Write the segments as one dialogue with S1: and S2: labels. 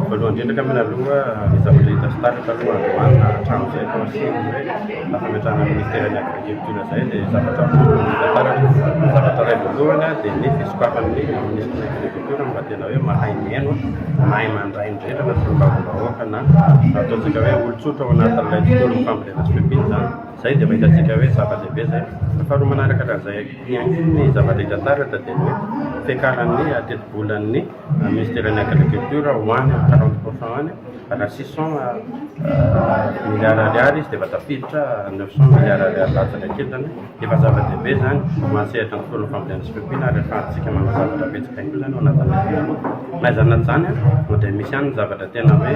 S1: Voalohany indrindra angambany aloha ny zavatra hita sy taratra aloha androany na hatramin'izay vao niseho hoe nahafametrahana ny Ministeran'ny Agriculture izay dia zavatra voalohany hita taratra. Ny zavatra iray voalohany dia ny fisokafan'ny Ministry ny Agriculture mba tena hoe mahay mihaino, mahay mandray ny rehetra na solombavambahoaka na ataontsika hoe olon-tsotra ao anatin'ilay tontolon'ny fambolena sy fiompiana izany. Izay dia efa hitantsika hoe zava-dehibe izay. Faharoa manaraka hatramin'izay hakiany ny zava-dehibe taratra dia ny hoe fiakaran'ny tetibolan'ny Minisiteran'ny Agriculture ho any amin'ny quarante pour cent any, raha six cent milliards ariary izy dia efa tafiditra neuf cent milliards ariary latsaka kely izany hoe efa zava-dehibe izany ho an'ny sehatra ny tontolon'ny fambolena sy fiompiana ary ahafahantsika manao zavatra betsaka ihany koa izany ao anatin'ny na izany na izany dia misy ihany ny zavatra tena hoe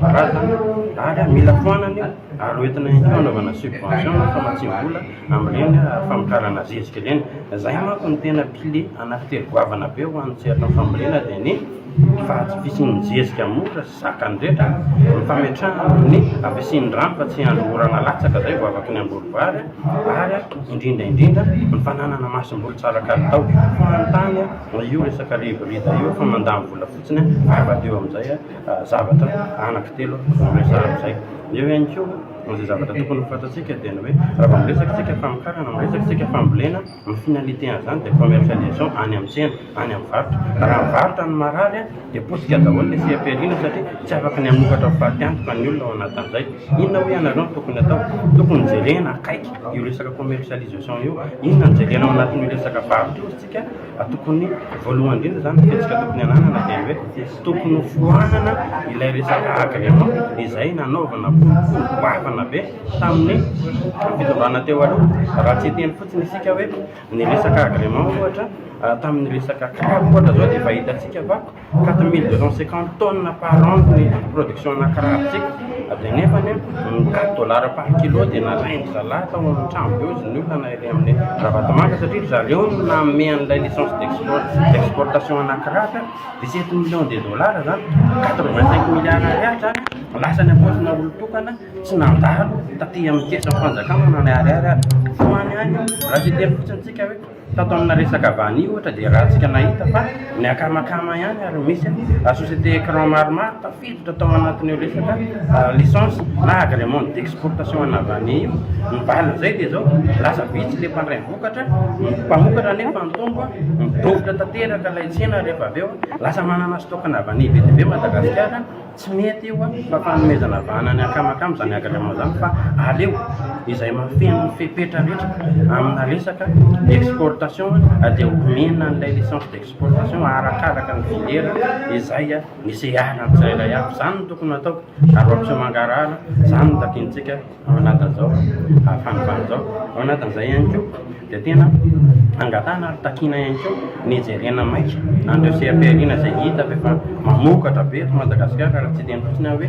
S1: karazana ary mila foanana io ary hoentina ihany koa hanaovana subvention na famatsiam-bola amin'ireny famokarana zezika ireny. Izay manko no tena kle anankitelo goavana be ho an'ny sehatry ny fambolena dia ny faha-tsy fisian'ny zezika mora sy zakan'ny rehetra, ny fametrahana ny havisian'ny rano fa tsy andro orana latsaka izay vao afaka ny hamboly vary ary indrindra indrindra ny fananana masomboly tsara kalitao foan'ny tany io resaka rivo rida io fa mandany vola fotsiny ary madio amin'izay zavatra anaky telo no resahana amin'izay. Eo ihany koa, izay zavatra tokony ho fantatsika dia ny hoe raha vao miresaka isika famokarana, miresaka isika fambolena, ny finalité an'izany dia commercialisation any amin'ny tsena, any amin'ny varotra. Raha mivarotra ny marary dia potika daholo ilay CEPRI-na satria tsy afaka ny hamokatra ho faty antoka ny olona ao anatin'izay. Inona hoy ianareo no tokony atao? Tokony jerena akaiky io resaka commercialisation io. Inona no jerena ao anatin'io resaka varotra io isika? Tokony voalohany indrindra zany fihetsika tokony hananana dia ny hoe tsy tokony ho foanana ilay resaka agrément izay nanaovana boribory goavana be tamin'ny fitondrana teo aloha. Raha tsy hiteny fotsiny isika hoe ny resaka agrément ohatra tamin'ny resaka CRAB ohatra izao dia efa hitantsika fa quatre mille deux cent cinquante tonnes par an ny production anà karatsika avy eo nefany an ny quatre dollars par kilo dia nalain-dry zalahy tao amin'ny trano be hozy ny olona na ilay amin'ny ravatomanga satria ry zareo no nanome an'ilay licence d'export d'exportation anà karatsy an dix sept millions de dollars izany quatre vingt cinq milliards ariary izany an lasa any am-paosina olon-tokana tsy nandalo taty amin'ny kesin'ny fanjakana na ny ariary ary ho any ihany io raha tsy hiteny fotsiny isika hoe Tato amina resaka vanille ohatra dia rahantsika nahita fa ny akamakama ihany ary misy société écran maromaro tafiditra tao anatin'io resaka licence na agrément d'exportation ana vanille io. Ny valin'izay dia izao, lasa vitsy ilay mpandray vokatra, ny mpamokatra anefa ny tombo a, midovitra tanteraka ilay tsena rehefa avy eo, lasa manana stock-na vanille be dia be Madagasikara. Tsy mety io an! fa fanomezana vahana ny akamakama izany agrément izany fa aleo izay mahafeno ny fepetra rehetra amina resaka exportation dia homena an'ilay licence d'exportation arakaraka ny filière izay niseharany tsirairay avy, izany no tokony hatao ary hoampihomangaraana, izany no takiantsika Ao anatin'izao fanovana izao, ao anatin'izay ihany koa dia tena angatahana ary takiana ihany koa ny jerena maika an'ireo seha-pihariana izay hita fa efa mamokatra be eto Madagasikara raha tsy hiteny fotsiny aho hoe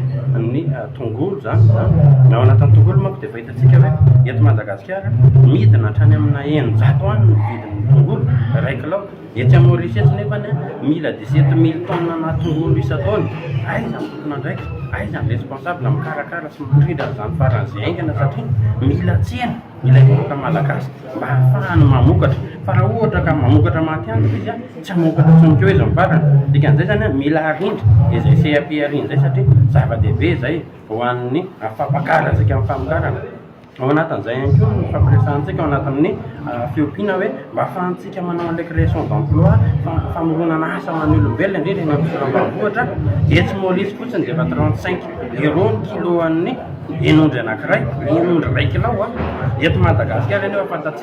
S1: ny tongolo izany izany. Ao anatin'ny tongolo manko dia efa hitantsika hoe eto Madagasikara midina hatrany amina eninjato any ny vidin'ny tongolo iray kilao. Etsy amin'ny Maorisy etsy nefa ny mila dix-sept mille tonnes ana tongolo isan-taona. Aiza ny tompon'andraikitra? Aiza ny responsable mikarakara sy mitondra an'izany faran'izay haingana satria mila tsena ilay vahoaka malagasy mba hahafahany mamokatra. Fa raha ohatra ka mamokatra matihanina izy an, tsy hamokatra intsony koa izy amin'ny farany. Dikan'izay izany an, mila harindra izay CAP harindra izay satria zava-dehibe izay ho an'ny fampakarazika amin'ny famokarana. Ao anatin'izay ihany koa ny fampiresahantsika ao anatin'ny fiompiana hoe mba ahafahantsika manao an'ilay création d'emploi, famoronana asa ho an'ny olombelona indrindra eny amin'ny faritra ambanivohitra. Etsy Maolisy fotsiny dia efa trente cinq euros ny kiloan'ny hen'ondry anankiray, hen'ondry iray kilao an! Eto Madagasikara anefa fantatsika.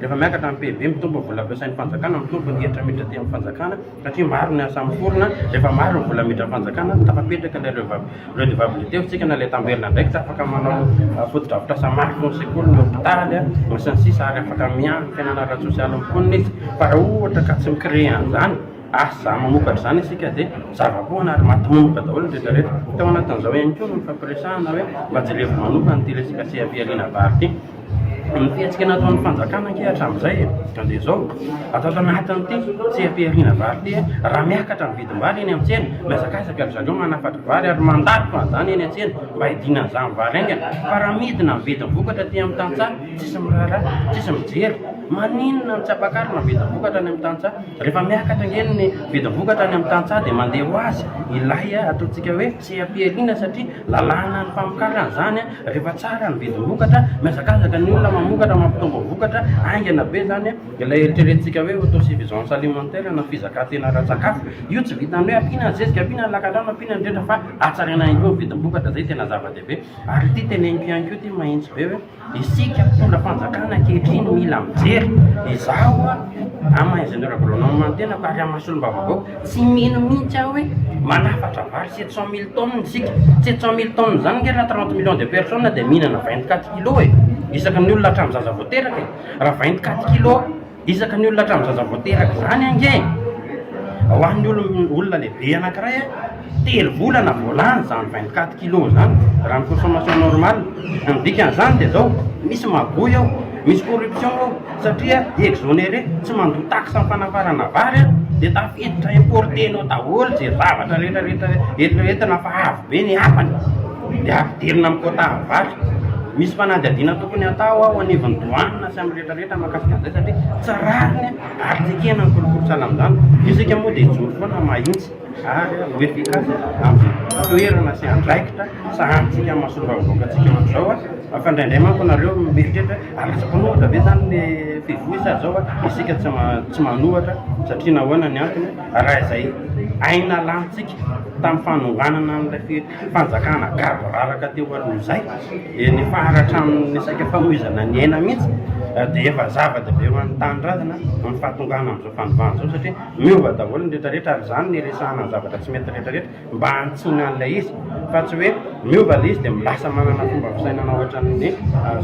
S1: Rehefa miakatra ny PIB, mitombo ny vola ampiasain'ny fanjakana, mitombo ny hetra miditra aty amin'ny fanjakana satria maro ny asa miforona, rehefa maro ny vola miditra amin'ny fanjakana, tafapetraka ilay redevabilite, fitsikana ilay tamberina indray, tsy afaka manao fotodrafitrasa mafy toy ny sekoly, ny hopitaly, ny sy ny sisa ary afaka miandry ny fiainana ara-tsosialy amin'ny mponina izy fa raha ohatra ka tsy mi-créer an'izany, asa mamokatra izany isika dia zava-poana ary matomomboka daholo ny rehetra rehetra. Tao anatin'izao ihany koa no nifampiresahana hoe mba jerevy manokana ity resaka CAP Alina Vary ity. ny fihetsika nataon'ny fanjakana ange hatramin'izay dia izao, ato anatin'ity seha-pihariana vary ity, raha miakatra ny vidim-bary eny amin'ny tsena, mihazakazaka ry zareo manafatra vary ary mandaroka an'izany eny an-tsena mba hidiana an'izany vary haingana, fa raha midina ny vidim-bokatra aty amin'ny tantsaha, tsisy miraharaha, tsisy mijery. Maninona no tsy ampakarina ny vidim-bokatra any amin'ny tantsaha? Rehefa miakatra ange ny vidim-bokatra any amin'ny tantsaha dia mandeha ho azy ilay ataontsika hoe seha-pihariana satria lalànan'ny famokarana izany an! Rehefa tsara ny vidivokatra, mihazakazaka ny olona mamokatra, mampitombo vokatra, haingana be izany ilay eritreretintsika hoe autosuffisance alimentaire na fizakantena ara-tsakafo. Io tsy vitan'ny hoe ampiana ny zezika, ampiana ny lakandrano, ampiana ny rehetra fa hatsaraina ihany koa ny vidim-bokatra, izay tena zava-dehibe. Ary ity teneniko ihany koa ity mahitsy be hoe isika mpitondra fanjakana ankehitriny mila mijery, izaho amin'ny maha ingénieur agronome ny tenako ary amin'ny maha solombavambahoaka, Tsy mino mihitsy aho hoe manafatra vary sept cent mille tonnes isika. Sept cent mille tonnes izany ange raha trente millions de personnes dia mihinana vingt quatre kilos e! Isaky ny olona hatramin'ny zaza vao teraka e! Raha vingt quatre kilos isaky ny olona hatramin'ny zaza vao teraka izany ange e! Ho an'ny olona lehibe anankiray a! Telo volana vao lany izany 24 kilos izany raha ny consommation normale. Ny dikan'izany dia izao, misy magouille ao, misy corruption ao satria exonéré, tsy mandoa taxe am-panafarana vary aho dia tafiditra importer-nao daholo izay zavatra rehetra rehetra eritreretina fa avo be ny hafany dia ampidirina amin'ny quota vary. Misy fanadihadiana tokony hatao ao anivon'ny douane sy amin'ny rehetra rehetra mahakasika an'izay satria tsy rariny ary tsy ekena ny kolikoly sahala amin'izany. Isika moa dia hijoro foana mahitsy. Ary ho efficace amin'ny toerana sy andraikitra sahanintsika amin'ny mahasolom-bahoakantsika ohatra izao a, fa indraindray manko nareo mieritreritra hoe ratsy mpanohatra ve zany ny fivoizana izao a, isika tsy tsy manohatra satria nahoana ny antony a, raha izay aina lanintsika tamin'ny fanonganana an'ilay fi- fanjakana gaboraraka teo aloha izay, dia nifahara hatramin'ny resaka famoizana ny aina mihitsy dia efa zava-dehibe ho an'ny tanindrazana ny fahatongana amin'izao fanovana izao satria. Miova daholo ny rehetra rehetra ary izany no iresahana ny zavatra tsy mety rehetra rehetra mba hanitsiana an'ilay izy fa tsy hoe miova ilay izy dia lasa manana fomba fisainana ohatran'ny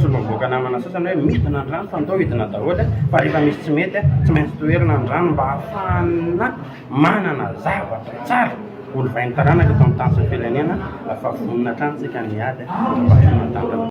S1: solombavamboaka namana sasany hoe midina ny rano fa ndao hidina daholo fa rehefa misy tsy mety tsy maintsy toherina ny rano mba hahafahana manana zavatra tsara ho lovain'ny taranaka eto amin'ny tany sy ny firenena fa vonona hatrany isika ny hiady mba ho tonga tanteraka.